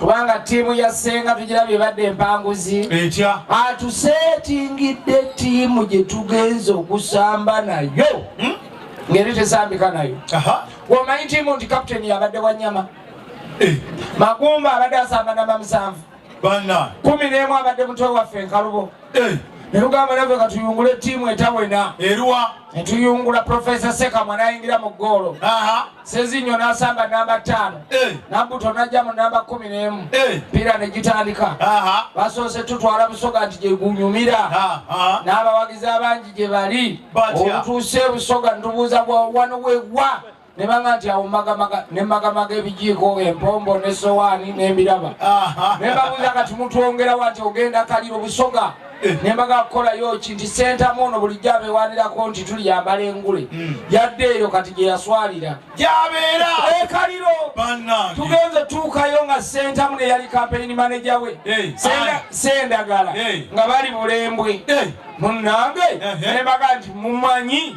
kubanga ttiimu ya ssenga tugira byebadde empanguzi etya atuseetingidde ttiimu gye tugenza okusamba nayo hmm? ngeri tesambika nayo omanyi ttiimu nti kaputeni yabadde wanyama eh. magumba abadde asamba namba musanvu kumi n'emu abadde mutwe waffe enkalubo eh. ne tugamba naffe katuyungule ttiimu etawena eruwa ne tuyungula profesa sekamwa n'ayingira mu ggoolo sezinyo n'asamba namba ttaano eh. nabuto n'ajja mu namba kumi n'emu eh. mpiira ne gitandika basoose tutwala busoga nti gye gunyumira n'abawagizi abangi gye bali obutuuse busoga ntubuuza bwa wano wegwa ne banga nti awo magamaga ne magamaga ebijiiko empombo ne sowaani n'embiraba ne babuuza kati mutwongerawo ati ogenda kaliro busoga eh. ne mbaga kukolayo ki nti sentamu ono bulijjo abeewanirako nti tuli yambala engule hmm. yadde eyo kati gye yaswalira gyabeera ekaliro eh, tugenze tuukayo nga sentamu ne yali kampeyini maneja we eh. sendagala nga bali bulembwe munnange ne mbaga nti mumanyi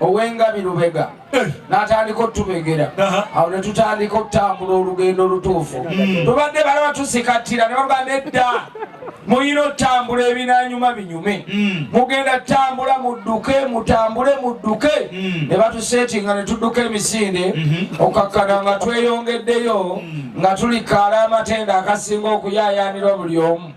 owengabi lubega eh. natandika otubegera awo netutandika okutambula olugendo olutuufu hmm. tubadde bala batusikattira nebaga nedda muyina otambula ebinanyuma binyume hmm. mugenda tambula mudduke mutambule mudduke hmm. nebatusetinga netudduka emisinde okakkana nga tweyongeddeyo nga tulikaala amatenda akasinga okuyayanirwa buli omu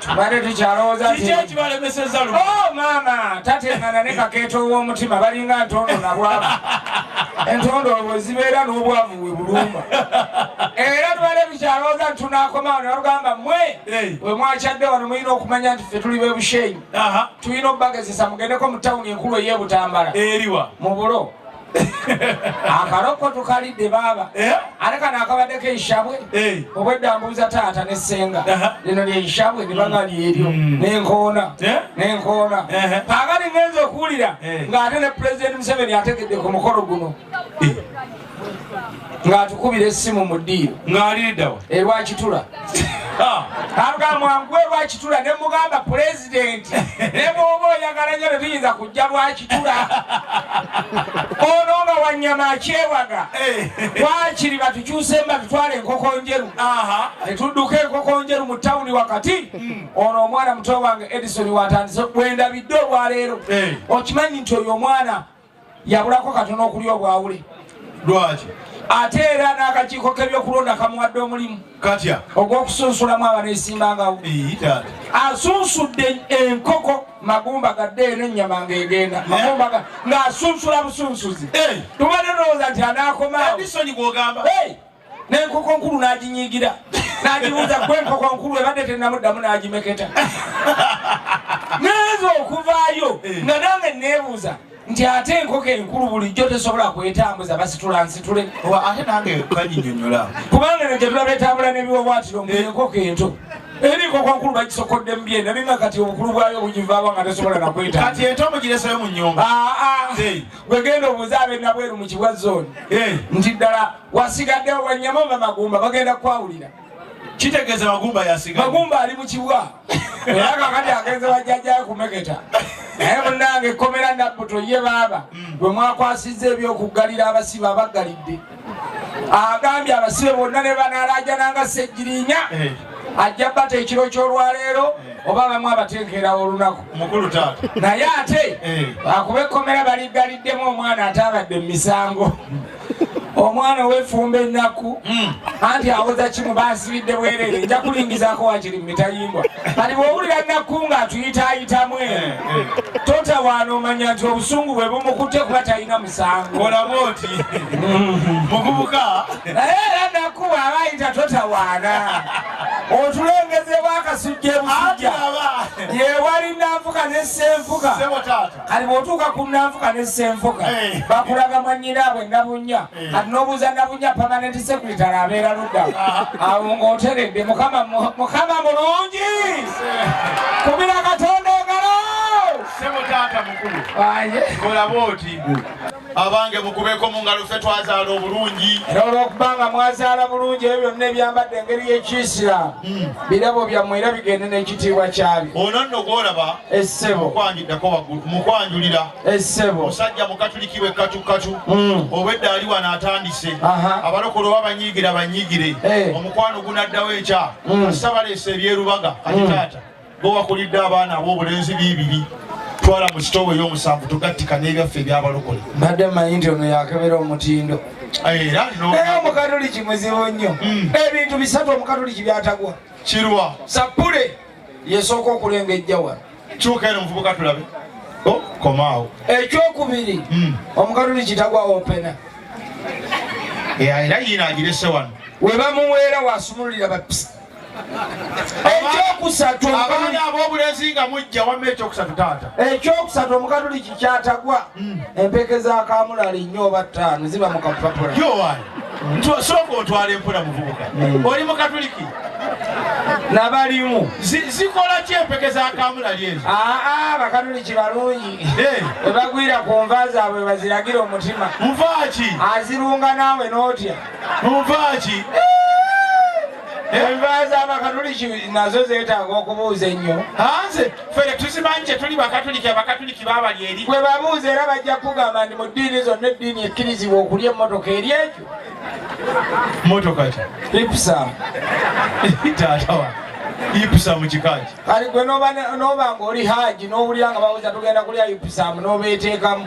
tubadde tukyalowooza kiki ekibalemeseza lu oh, maama tatengana ne kakeeta ow'omutima balinga ntondo nabwavu entondo olwo zibeera n'obwavu we bulumba era tubadde tukyalowooza nti tunaakomawo ne balugamba mwe we mwakyadde wano mulina okumanya nti ffe tuli bebushenyi tulina okubagezesa mugendeko mu tawuni enkulu ey'ebutambala eriwa mu bulo akalokko tukalidde baaba eh? ate kano akabaddeko enshabwe eh. obwedda mbuuza taata ne senga lino lyenshabwe libanga mm. lyeryo mm. nenkoona eh? nenkoona kaakati ngenza okuwulira ng'ate ne pulezidenti museveni ategedde ku mukolo guno ng'atukubira essimu mu ddiiro ng'aliidawa erwakitula aluga mwangu erwakitula ne mugamba pulezidenti ne bwoba oyagala nyo tetuyinza kujja lwakitula ono nga wanyama akyewaga eh. wakiri batukyuse mba tutwala enkoko njeru netudduka enkoko njeru mu tawuni wakati hmm. ono omwana muto wange edison watandise bwendabidde olwaleero eh. okimanyi nti oyo omwana yabulako katono okulya obwawule lwaki ate era n'akakiiko k'ebyokulonda kamuwadde omulimu katya ogw'okusunsulamu abaneesimbangawo asunsudde enkoko magumba gadde era ennyama ng'egenda eh? magumba ng'asunsula busunsuzi tubadde tulowooza nti anaakomaao n'enkoko nkulu n'aginyiigira n'agibuuza gwe enkoko nkulu ebadde tennamuddamu n'agimeketa neza okuvaayo eh. nga nange neebuuza nti ate enkoko enkulu bulijjo tesobola kwetambuza basitula nsitule ate nange kanyinyonyola kubanga ne gyetulaba etambula n'ebiwawatiro mu eh. enkoko ento eri enkoko nkulu bagisokodde mu byenda ninga kati obukulu bwayo bugivaaba nga tesobola nakweta kati ento mugireseyo mu nyumba ah, ah. gwegenda obuuza ab'enabweru mu kibwa zone eh. nti ddala wasigadde wanyama oba magumba bagenda kwawulira kitegeeza magumba yasiga magumba ali mu kibwa era kakati agenze bajjajayo kumeketa naye munange ekkomera nabbuto ye baaba mm. bwe mwakwasizza ebyokuggalira abasibe abaggalidde agambye abasibe bonna ne banalajananga sejjirinya eh. ajja bata ekiro kyolwaleero eh. oba bamu abateekerawo olunaku naye ate eh. akuba ekkomera baliggaliddemu omwana ate abadde mu misango omwana owefumba ennaku hmm. anti awoza kimu basibidde bwerere nja kulingizako wakiri mumitayimbwa kati bwowulira nakku nga atuyitayitamu eh, eh. totawaana omanya nti obusungu bwe bumukutte kuba talina musango olamu oti hmm. muvubuka naye era nakku bwaba ayita totawaana otulengezebwa akasujja ebusujja yewali nanfuka nesenfuka kati bwotuuka ku nanfuka ne senfuka eh. bakulaga mwanyinaabwe nabunya eh. kati nobuuza nabunya permanent secretary abeera ludda ah. awo ngaoteredde mukama mulungi eh. kubira katonda engalo semutaata mukulu olabe oti abange mukubeko mu ngalo ffe twazaala obulungi era olwokuba nga mwazaala bulungi ebyo byonna ebyambadde engeri y'ekiisiramu hmm. birabo byammwe era bigende n'ekitiibwa kyabyo ono nno gwolaba essebo okwanjuddako waggulu mukwanjulira essebo musajja mukatuliki we katukkatu hmm. obwedda ali wano atandise abalokola oba banyiigira banyiigire eh. omukwano gunaddawo ekya hmm. sabaleesa ebyerubaga kati taata Bo wakulidde abaana ab'obulenzi biibiri twala mu sitoowa ey'omusanvu tugattika n'ebyaffe ebyabalokole mbadde manyi nti ono yakebera omutindo era naye omukatoliki muzibu nnyo hmm. ebintu bisatu omukatoliki byatagwa kirwa sappule yesooka okulengejja wano kyuka eno omuvubuka tulabe oh, komaawo ekyokubiri hmm. omukatoliki tagwa opena era yiina agirese wano webamuweera wasumululira bapisa ekyokusatu abaana ab'obulenzi nga mujja wamma ekyokusatu taata ekyokusatu omukatuliki kyatagwa hmm. empeke za kamulali nnyo oba ttaano ziba mu kapapula yowaani sooka otwala empola muvubuka hmm. oli mukatuliki nabalimu zikola ki empeke za kamulali ezo aa bakatuliki balungi webagwira ku nva zaabwe baziragira omutima nvaaki azirunga naawe n'otya nvaaki enva z'abakatuliki nazo zeetaaga okubuuza ennyo hanze fere tuzimanyi kye tuli bakatuliki abakatuliki baabali eri gwe babuuza era bajja kugamba nti mu ddiini zonna eddiini ekkirizibwa okulya emmotoka eri ekyo motoka ki ipsa taatawa ipsa mu kikaaki kali gwe noba ng'oli haaji n'owulira nga babuuza tugenda kulya ipsamu n'obeeteekamu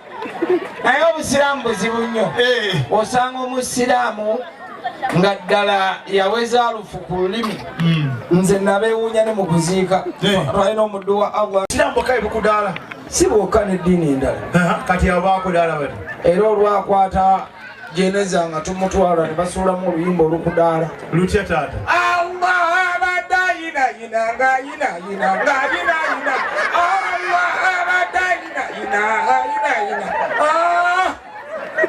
naye obusiraamu buzibu nnyo eh. osanga omusiraamu nga ddala yaweza alufu ku lulimi hmm. nze nabewuunya ne mu kuziika eh. twalina omuddu wa allah siraamu bokka ebikudaala si bwokka n'eddiini endala kati abo bakudaala bati era olwakwata jeneza nga tumutwala nebasuulamu oluyimba olukudaala lutya taata allah abadde ayinayina ngayinayina ngayinayina allah abadde ayinayina ayinayina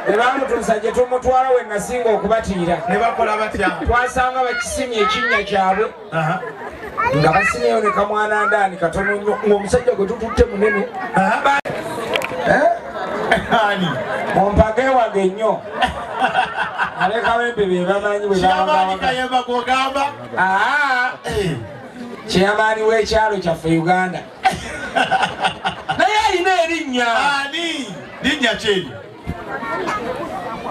nebamutuusa ah! gye tumutwala we nasinga okubatiira ne bakola batya twasanga bakisimye ekinnya kyabwe nga basineyo ne kamwana ndaani katono nnyo ng'omusajja gwe tututte munene eh? ani mumpage wange nnyo abekawempe bebamanyi bwebaagamba kyeyamaani w'ekyalo kyaffe uganda naye alina erinnya ani linnya kyeryo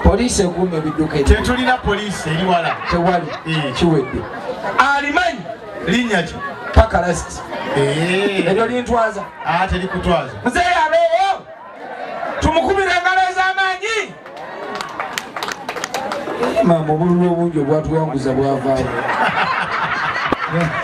poliisi ekuuma ebidduka tetulina poliisi eri wala tewali eh. kiwedde alimanyi linnya ki pakalasiti eh. eryo lintwaza ah, terikutwaza muzeeyi abeeyo tumukubira engalo ez'amaanyi maama obululu obungi obwatuwanguza bwavaawo